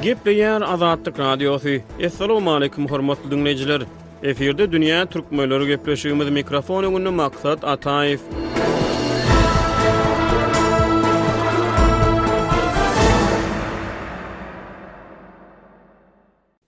Gepleýär Azatlyk Radiosy. Assalamualaikum hormatly dinleýjiler. Efirde dünýä türkmenleri gepleşigimiz mikrofon öňünde Maksat Ataýew.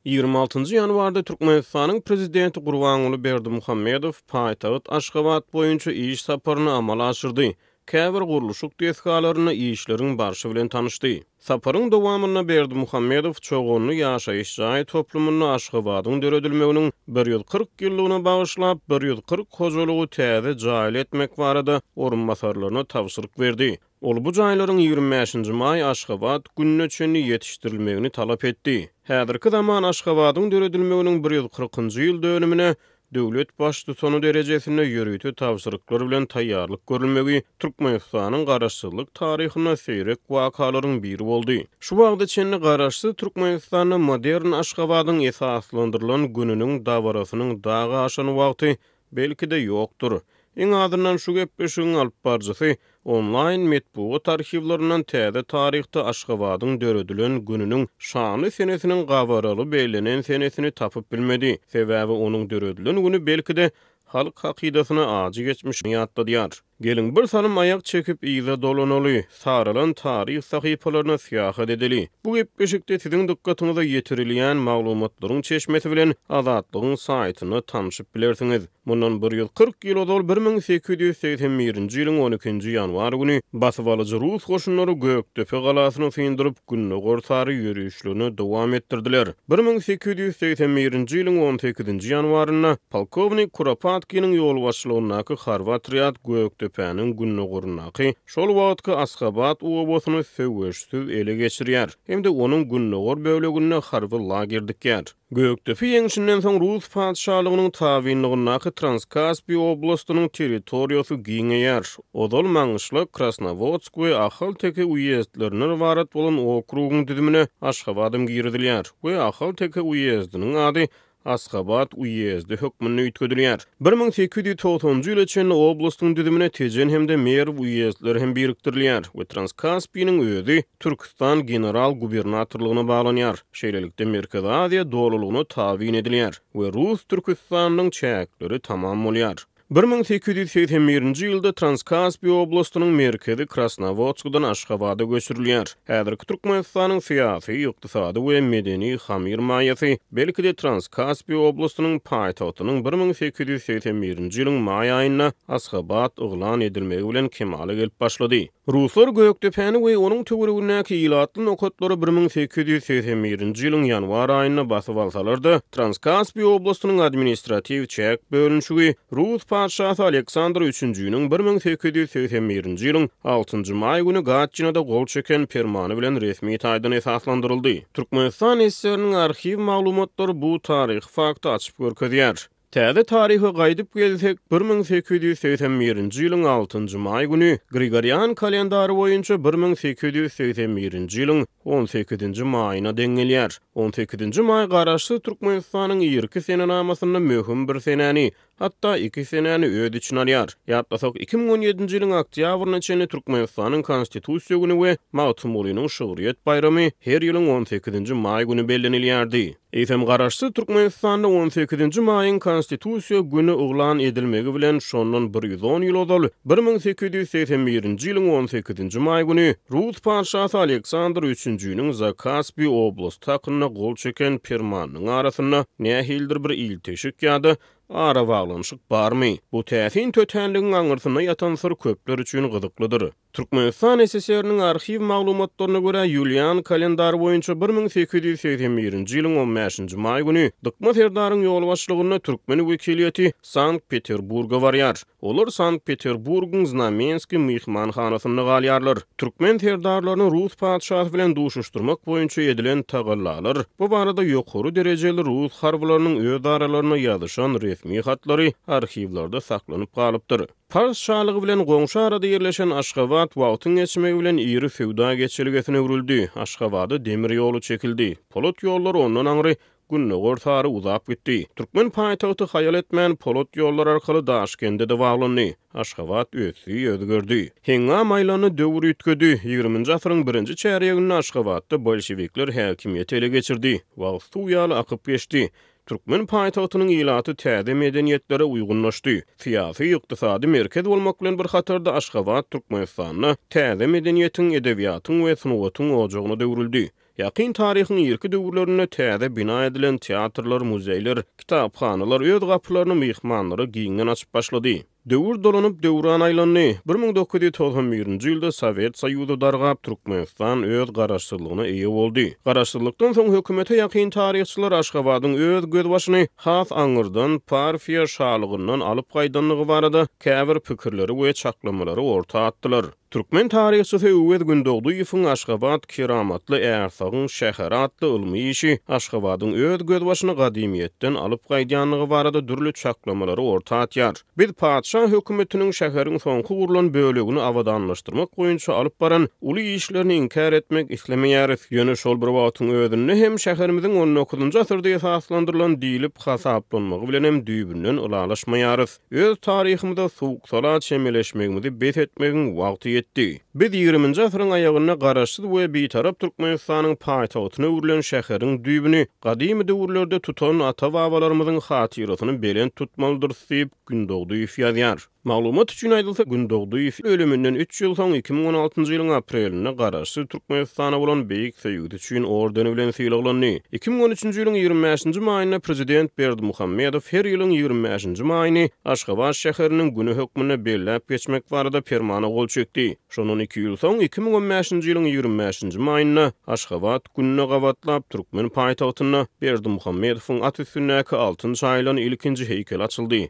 Ýigrimi altynjy ýanwarda Türkmenistanyň Prezidenti Gurbanguly Berdimuhamedow paýtagt Aşgabat boýunça iş saparyny amala aşyrdy, käbir gurluşyk desgalarynda işleriň barşy bilen tanyşdy. Saparyň dowamynda Berdimuhamedow Çoganly ýaşaýyş jaý toplumynda Aşgabadyň döredilmeginiň bir ýüz kyrk ýyllygyna bagyşlap bir ýüz kyrk hojalygy täze jaýly etmek barada orunbasarlaryna tabşyryk berdi, Ol bu jaýlaryň ýigrimi bäşinji maý Aşgabat gününe çenli ýetişdirilmegini talap etdi. Häzirki zaman Aşgabadyň döredilmeginiň bir ýüz kyrkynjy ýyl dönümine döwlet Baştutany derejesinde ýörite tabşyryklar bilen taýýarlyk görülmegi Türkmenistanyň Garaşsyzlyk taryhynda seýrek wakalaryň biri boldy. Şu wagta çenli Garaşsyz Türkmenistanda modern Aşgabadyň esaslandyrylan gününiň dabarasynyň dagy aşan wagty Belki-de ýokdur. Iň azyndan şu gepleşigiň alypbaryjysy onlaýn metbugat arhiwlerinden täze taryhda Aşgabadyň döredilen gününiň şanly senesiniň gabaraly bellenen senesini tapyp bilmedi. Sebäbi onuň döredilen güni belki-de halk hakydasyna ajy geçmişini ýatladýar. Geliň, bir salym aýak çekip yza dolanaly, saralan taryh sahypalaryna syýahat edeli. Bu gepleşikde siziň dykgatyňyza ýetirilýän maglumatlaryň çeşmesi bilen Azatlygyň saýtynda tanşyp bilersiňiz. Mundan bir ýüz kyrk ýyl ozal bir müň sekiz ýüz segsen birinji ýylyň on ikinji ýanwar güni basybalyjy rus goşunlary Gökdepe galasyny syndyryp, gündogar sary ýörişlerini dowam etdirdiler. Bir müň sekiz ýüz segsen birinji ýylyň on sekizinji ýanwarynda polkownik Kuropatkiniň ýolbaşçylygyndaky harby otrýad Gökdepäniň gündogaryndaky, şol wagtky Asgabat obasyny söweşsiz ele geçirýär hem-de onuň gündogar böleginde harby lager dikýär. Gökdepe ýeňşinden soň rus patyşalygynyň tabynlygyndaky Transkaspiý oblastynyň territoriýasy giňeýär, Ozal Maňyşlak, Krasnowodsk we Ahalteke uýezdlerinden ybarat bolan okrugyň düzümine Aşgabadam girizilýär we Ahalteke uýezdiniň ady Asgabat uýezdi hökmünde üýtgedilýär. Bir müň sekiz ýüz togsanjy ýyla çenli oblastyň düzümine Tejen hem-de Merw uýezdleri hem birikdirilýär we Transkaspiniň özi Türküstan general-gubernatorlygyna baglanýar. Şeýlelikde, Merkezi Aziýa dolulygyna tabyn edilýär we Rus Türküstanynyň çäkleri tamam bolýar. Bir müň sekiz ýüz segsen birinji ýylda Transkaspiýa oblastynyň merkezi Krasnowodskdan Aşgabada göçürilýär. Häzirki Türkmenistanyň syýasy, ykdysady we medeni hamyr maýasy, belki-de, Transkaspiýa oblastynyň paýtagtynyň bir müň sekiz ýüz segsen birinji ýylyň maý aýynda Asgabat yglan edilmegi bilen kemala gelip başlady. Ruslar Gökdepäni we onuň töweregindäki ilatly nokatlary bir müň sekiz ýüz segsen birinji ýylyň ýanwar aýynda basyp alsalar-da, Transkaspiý oblastynyň administratiw çäk bölünişigi rus patyşasy Aleksandr üçünjiniň bir müň sekiz ýüz segsen birinji ýylyň altynjy maý güni Gatçinada gol çeken permany bilen resmi taýdan esaslandyryldy. Türkmenistan SSR-niň arhiw maglumatlary bu taryhy fakty açyp görkezýär. Täze taryha gaýdyp gelsek, bir müň sekiz ýüz segsen birinji ýylyň altynjy maý güni, Grigorian kalendary boýunça bir müň sekiz ýüz segsen birinji ýylyň on sekizinji maýyna deň gelýär. On sekizinji maý Garaşsyz Türkmenistanyň irki senenamasynda möhüm bir senäni, hatda iki senäni öz içine alýar. Ýatlasak, iki müň on ýedinji ýylyň oktýabryna çenli Türkmenistanyň Konstitusiýa güni we Magtymgulynyň şygryýet baýramy her ýylyň on sekizinji maý güni bellenilýärdi. Eýsem, Garaşsyz Türkmenistanda on sekizinji maýyň Konstitusiýa güni yglan edilmegi bilen şondan bir ýüz on ýyl ozal, bir müň sekiz ýüz segsen birinji ýylyň on sekizinji maý güni rus patyşasy Aleksandr üçünjiniň Zakaspi oblasty hakynda gol çeken Permanynyň arasynda nähilidir bir ilteşik ýa-da arabaglanyşyk barmy? Bu täsin tötänligiň aňyrsynda ýatan syr köpler üçin gyzyklydyr. Türkmenistan SSR-niň arhiw maglumatlaryna görä, ýulian kalendary boýunça bir müň sekiz ýüz segsen birinji ýylyň on bäşinji maý güni Dykma serdaryň ýolbaşçylygynda türkmen wekiliýeti Sankt-Peterburga barýar. Olar Sankt-Peterburgyň Znamenskiý myhmanhanasynda galýarlar. Türkmen serdarlaryny rus patyşasy bilen duşuşdyrmak boýunça edilen tagallalar, bu barada ýokary derejeli rus harbylarynyň özaralaryna ýazyşan resmi hatlary arhiwlerde saklanyp galypdyr. Pars şalygy bilen goňşy arada ýerleşen Aşgabat wagtyň geçmegi bilen iri söwda geçelgesine öwrüldi. Aşgabada demir ýoly çekildi. Polat ýollar ondan aňry gündogar sary uzap gitdi. Türkmen paýtagty haýal etmän, polat ýollar arkaly Daşkende-de baglandy. Aşgabat ösdi, özgerdi. Heňňam aýlandy, döwür üýtgedi. Ýigriminji asyryň birinji çärýeginde Aşgabatda bolşewikler häkimiýeti ele geçirdi. Wagt suw ýaly akyp geçdi. Türkmen paýtagtynyň ilaty täze medeniýetlere uýgunlaşdy. Syýasy, ykdysady merkez bolmak bilen bir hatarda Aşgabat Türkmenistanda täze medeniýetiň, edebiýatyň we sungatyň ojagyna öwrüldi. Ýakyn taryhyň irki döwürlerinde täze bina edilen teatrlar, muzeýler, kitaphanalar öz gapylaryny myhmanlara giňden açyp başlady. Döwür dolanyp, döwran aýlandy. Bir müň dokuz ýüz togsan birinji ýylda Sowet Soýuzy dargap, Türkmenistan öz garaşsyzlygyna eýe boldy. Garaşsyzlykdan soň hökümete ýakyn taryhçylar Aşgabadyň öz gözbaşyny has aňyrdan Parfiýa şalygyndan alyp gaýdandygy barada käbir pikirleri we çaklamalary orta atdylar. Türkmen taryhçysy Öwez Gündogdyýewiň Aşgabat, keramatly ärsagyň şäheri atly ylmy işi Aşgabadyň öz gözbaşyny gadymyýetden alyp gaýdýandygy barada dürli çaklamalary orta atýar. Biz patyşa hökümetiniň şäheriň soňky gurlan bölegini abadanlaşdyrmak boýunça alyp baran uly işlerini inkär etmek islemeýäris, ýöne şol bir wagtyň özünde hem şäherimiziň on dokuzynjy asyrda esaslandyrylan diýlip hasaplanmagy bilenem düýbünden ylalaşmaýarys. Öz taryhymyza suwuk-sala çemeleşmegimizi bes etmegiň wagty ýetdi. Biz ýigriminji asyryň aýagynda Garaşsyz we Bitarap Türkmenistanyň paýtagtyna öwrülen şäheriň düýbüni gadymy döwürlerde tutan ata-babalarymyzyň hatyrasyny belent tutmalydyrys diýip, Gündogdyýew ýazýar. Maglumat üçin aýdylsa, Gündogdyýew ölüminden üç ýyl soň, iki müň on altynjy ýylyň aprelinde Garaşsyz Türkmenistana bolan beýik söýgüsi üçin ordeni bilen sylaglandy. Iki müň on üçünji ýylyň ýigrimi bäşinji maýynda prezident Berdimuhamedow her ýylyň ýigrimi bäşinji maýyny Aşgabat şäheriniň güni hökmünde belläp geçmek barada permana gol çekdi. Şondan iki ýyl soň, iki müň on bäşinji ýylyň ýigrimi bäşinji maýynda Aşgabat gününe gabatlap türkmen paýtagtynda Berdimuhamedowyň at üstündäki altyn çaýylan ilkinji heýkel açyldy.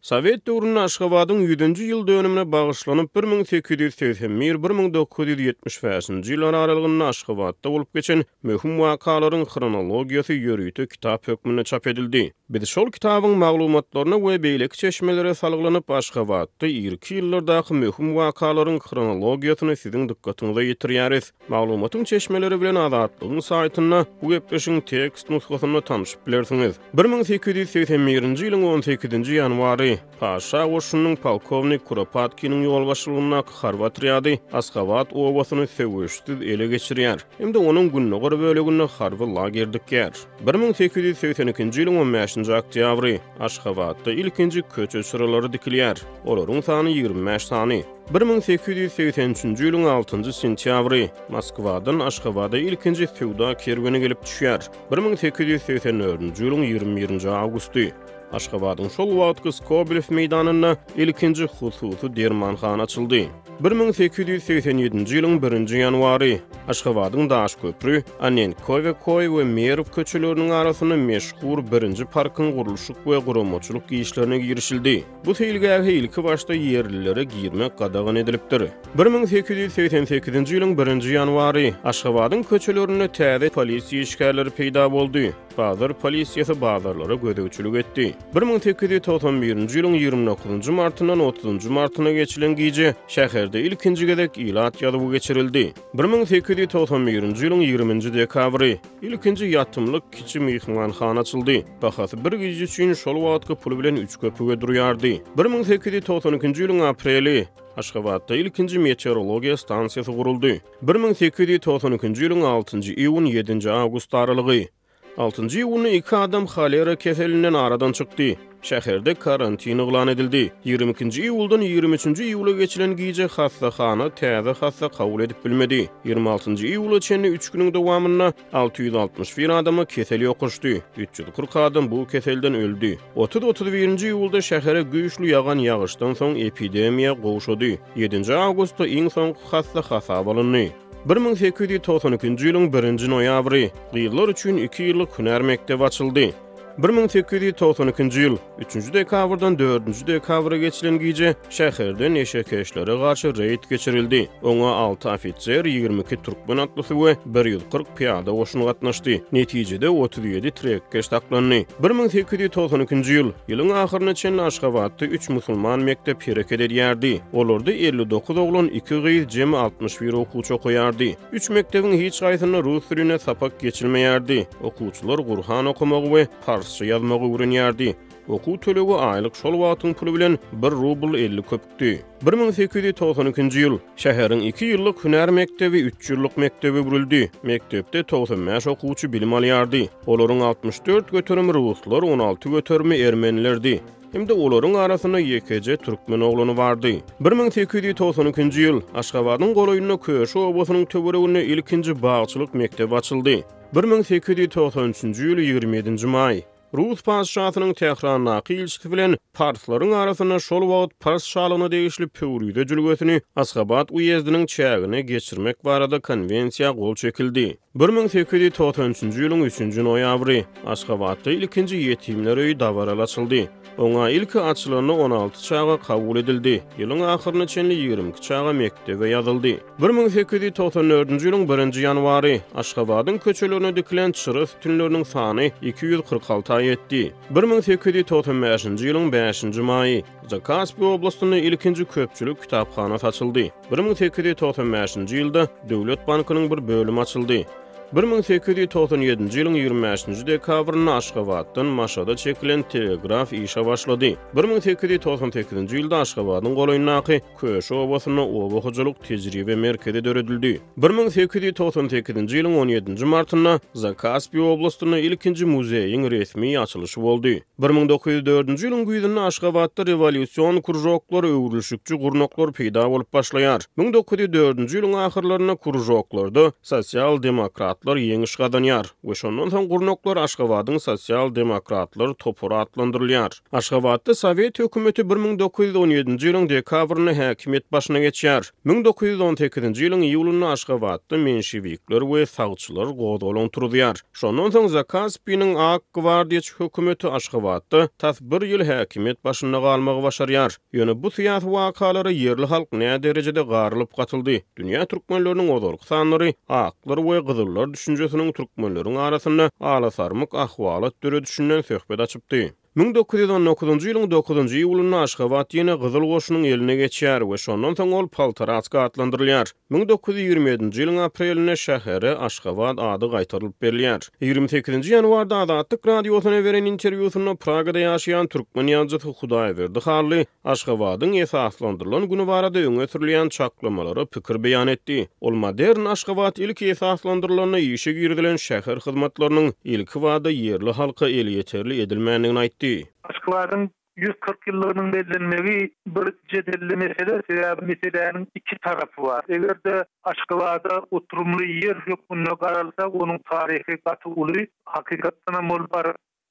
Sowet döwründe Aşgabadyň ýüzünji ýyl dönümine bagyşlanyp bir müň sekiz ýüz segsen bir, bir müň dokuz ýüz ýetmiş bäşinji ýyllar aralygynda Aşgabatda bolup geçen möhüm wakalaryň hronologiýasy ýörite kitap hökmünde çap edildi. Biz şol kitabyň maglumatlaryna we beýleki çeşmelere salgylanyp, Aşgabatda irki ýyllardaky möhüm wakalaryň hronologiýasyny siziň dykgatyňyza ýetirýäris. Maglumatyň çeşmeleri bilen Azatlygyň saýtynda bu gepleşigiň tekst nusgasynda tanşyp bilersiňiz. Bir müň sekiz ýüz segsen birinji ýylyň on sekizinji ýanwary Paşa goşunynyň polkownik Kuropatkiniň ýolbaşçylygyndaky harby otrýady Askabat obasyny söweşsiz ele geçirýär hem-de onuň gündogar böleginde harby lager dikýär. Bir müň sekiz ýüz segsen ikinji ýylyň on bäşinji oktýabry Aşgabatda ilkinji köçe çyralary dikilýär. Olaryň sany ýigrimi bäş sany. Bir müň sekiz ýüz segsen üçünji ýylyň altynjy sentýabry, Moskwadan Aşgabada ilkinji söwda kerweni gelip düşýär. Bir müň sekiz ýüz segsen dördünji ýylyň ýigrimi birinji awgusty, Aşgabadyň şol wagtky Skobelew meýdanynda ilkinji hususy dermanhana açyldy. Bir müň sekiz ýüz segsen ýedinji ýylyň birinji ýanwary, Aşgabadyň Daşköpri, Anenkowe Koý we Merw köçeleriniň arasynda meşhur birinji parkyň gurluşyk we guramaçylyk işlerine girişildi. Bu seýilgähe ilkibaşda ýerlilere girmek gadagan edilipdir. Bir müň sekiz ýüz segsen sekizinji ýylyň birinji ýanwary Aşgabadyň köçelerinde täze polisiýa işgärleri peýda boldy. Bazar polisiýasy bazarlara gözegçilik etdi. Bir müň sekiz ýüz togsan birinji ýylyň ýigrimi dokuzynjy martyndan otuzynjy martyna geçilen gije şäherde ilkinji gezek ilat ýazuwy geçirildi. Bir müň sekiz ýüz togsan birinji ýylyň ýigriminji dekabry. Ilkinji ýatymlyk kiçi myhmanhana açyldy. Bahasy bir gije üçin şol wagtky pul bilen üç köpüge durýardy. Bir müň sekiz ýüz togsan ikinji ýylyň apreli Aşgabatda ilkinji meteorologiýa stansiýasy guruldy. Bir müň sekiz ýüz togsan ikinji ýylyň altynjy iýun, ýedinji awgust aralygy. Altynjy iýunda iki adam holera keselinden aradan çykdy. Şäherde karantin yglan edildi. Ýigrimi ikinji iýuldan ýigrimi üçünji iýula geçilen gije hassahana täze hassa kabul edip bilmedi. Ýigrimi altynjy iýula çenli üç günüň dowamynda alty ýüz altmyş bir adama kesel ýokaşdy, üç ýüz kyrk adam bu keselden öldi. Otuz, otuz birinji iýulda şähere güýçli ýagan ýagyşdan soň epidemiýa gowşady. Ýedinji awgustda iň soňky hassa hasaba alyndy. Bir müň sekiz ýüz togsan ikinji ýylyň birinji noýabry, gyzlar üçin iki ýyllyk hünär mekdebi açyldy. Bir müň sekiz ýüz togsan ikinji ýyl, üçünji dekabrdan dördünji dekabra geçilen gije şäherde neşekeşlere garşy reýd geçirildi. Oňa alty ofiser, ýigrimi iki türkmen atlysy we bir ýüz kyrk pyýada goşun gatnaşdy. Netijede, otuz ýedi trekkeş saklandy. Bir müň sekiz ýüz togsan ikinji ýyl, ýylyň ahyryna çenli Aşgabatda üç musulman mekdep hereket edýärdi. Olarda elli dokuz oglan, iki gyz, jemi altmyş bir okuwçy okaýardy. Üç mekdebiň hiç haýsynda rus dilinde sapak geçilmeýärdi. Okuwçylar Gurhan okamagy we parsça ýazmagy öwrenýärdi. Okuw tölegi aýlyk şol wagtyň puly bilen bir rubl elli köpükdi. Bir müň sekiz ýüz togsan ikinji ýyl şäheriň iki ýyllyk hünär mekdebi üç ýyllyk mekdebe öwrüldi. Mekdepde togsan bäş okuwçy bilim alýardy. Olaryň altmyş dört göterimi ruslar, on alty göterimi ermenilerdi. Hem-de olaryň arasynda ýekeje türkmen oglany bardy. Bir müň sekiz ýüz togsan ikinji ýyl Aşgabadyň golaýynda Köşi obasynyň töwereginde ilkinji bagçylyk mekdebi açyldy. Bir müň sekiz ýüz togsan üçünji ýyl ýigrimi ýedinji maý. Rus patyşasynyň Tährandaky ilçisi bilen parslaryň arasynda şol wagt Pars şalygyna degişli Pöwrize jülgesini Askabat uýezdiniň çägine geçirmek barada konwensiýa gol çekildi. Bir müň sekiz ýüz togsan üçünji ýylyň üçünji noýabry Aşgabatda ilkinji ýetimler öýi dabaraly açyldy. Oňa ilki açylanda on alty çaga kabul edildi, ýylyň ahyryna çenli ýigrimi iki çaga mekdebe ýazyldy. Bir müň sekiz ýüz togsan dördünji ýylyň birinji ýanwary, Aşgabadyň köçelerine dikilen çyra sütünleriniň sany iki ýüz kyrk alta ýetdi. Bir müň sekiz ýüz togsan bäşinji ýylyň bäşinji maýy, Zakaspi oblastynda ilkinji köpçülik kitaphana saçyldy. Bir müň sekiz ýüz togsan bäşinji ýylda Döwlet bankynyň bir bölümi açyldy. Bir müň sekiz ýüz togsan ýedinji ýylyň ýigrimi bäşinji dekabrynda Aşgabatdan Maşada çekilen telegraf işe başlady. Bir müň sekiz ýüz togsan sekizinji ýylda Aşgabadyň golaýyndaky Köşi obasynda oba hojalyk tejribe merkezi döredildi. Bir müň sekiz ýüz togsan sekizinji ýylyň on ýedinji martynda Zakaspi oblastynda ilkinji muzeýiň resmi açylyşy boldy. Bir müň dokuz ýüz dördünji ýylyň güýzünde Aşgabatda rewolýusion kružoklar, öwrülişikçi gurnaklar peýda bolup başlaýar. Müň dokuz ýüz dördünji ýylyň ahyrlarynda kružoklarda sosial-demokratlar ýeňiş gazanýar we şondan soň gurnaklar Aşgabadyň sosial-demokratlary topary atlandyrylýar. Aşgabatda Sowet hökümeti bir müň dokuz ýüz on ýedinji ýylyň dekabrynda häkimiýet başyna geçýär. Müň dokuz ýüz on sekizinji ýylyň iýulynda Aşgabatda menşewikler we sagçylar gozgalaň turuzýar. Şondan soň Zakaspiniň ak gwardiýaçy hökümeti Aşgabatda tas bir ýyl häkimiýet başynda galmagy başarýar. Ýöne bu syýasy wakalara ýerli halk näderejede garylyp gatyldy. Dünýä türkmenleriniň ozalky sanlary aklar we gyzyllar düşünjesiniň türkmenleriň arasynda alasarmyk ahwalat döredişinden söhbet açypdy. Müň dokuz ýüz on dokuzynjy ýylyň dokuzynjy iýulynda Aşgabat ýene gyzyl goşunyň eline geçýär we şondan soň ol Poltoratska atlandyrylýar. Müň dokuz ýüz ýigrimi ýedinji ýylyň aprelinde şähere Aşgabat ady gaýtarylyp berilýär. Ýigrimi sekizinji ýanwarda Azatlyk Radiosyna beren interwýusynda Pragada ýaşaýan türkmen ýazyjysy Hudaýberdi Hally Aşgabadyň esaslandyrylan güni barada öňe sürülýän çaklamalara pikir beýan etdi. Ol modern Aşgabat ilki esaslandyrylanda işe girizilen şäher hyzmatlarynyň ilkibada ýerli halka elýeterli edilmändigini aýtdy. Aşgabadyň ýüz kyrk ýyllygynyň bellenmegi bir jedelli mesele, sebäbi meseläniň iki tarapy bar. Eger-de Aşgabada oturymly ýer hökmünde garalsa, onuň taryhy gaty uly. Hakykatdanam ol bir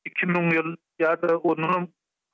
iki müň ýyl ýa-da ondanam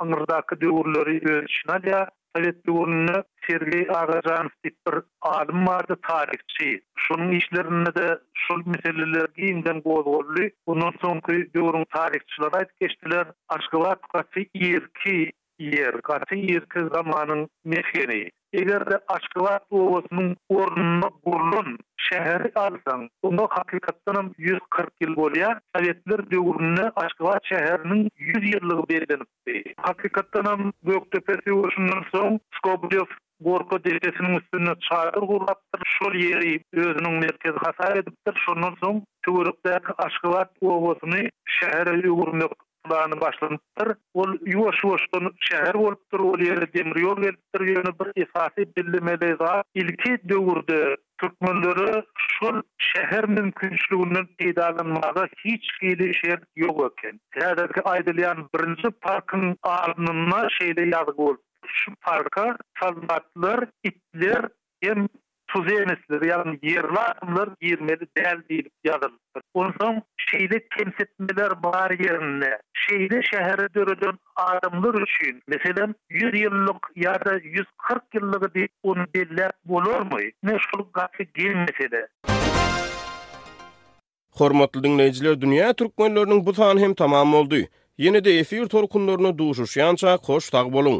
yňyrdaky döwürleri öz içine alýar. Sowet döwründe Sergeý Agajanow diýip bir alym bardy, taryhçy. Şonuň işlerinde-de şol meseleler giňden gozgaldy. Ondan soňky döwrüň taryhçylary aýdyp geçdiler, Aşgabat gaty irki Ýer, gaty irki zamanyň mesgeni. Eger-de Aşgabat obasynyň ornuna gurlan şäheri alsaň, oňa hakykatdanam ýüz kyrk ýyl bolýar. Sowetler döwründe Aşgabat şäheriniň ýüz ýyllygy bellenipdi. Hakykatdanam, Gökdepe söweşinden soň Skoblew Gorka depesiniň üstünde çadyr gurlapdyr, şol ýeri özüniň merkezi hasap edipdir. Şondan soň töwerekdäki Aşgabat obasyny şähere öwürmek plany başlanypdyr. Ol ýuwaş-ýuwaşdan şäher bolupdyr, ol ýere demir ýol gelipdir. Ýöne bir esasy bellemeli zat, ilki döwürde türkmenlere şol şäher mümkinçiliginden peýdalanmaga hiç hili şert ýok eken. Häzirki aýdylýan birinji parkyň alnynda şeýle ýazgy bolupdyr. Şu parka sazbaklar, itler hem tuzenesler, ýagny ýerli adamlar girmeli däl diýlip ýazylypdyr. Onsoň şeýle kemsitmeler bar ýerinde, şeýle şäheri döreden adamlar üçin, meselem, ýüz ýyllyk ýa-da ýüz kyrk ýyllygy diýip ony belläp bolarmy? Ine, şol gaty geň mesele. Hormatly diňleýjiler dünýä türkmenleriniň bu sany hem tamam boldy. Ýene-de efir tolkunlarynda duşuşýançak hoş sag boluň.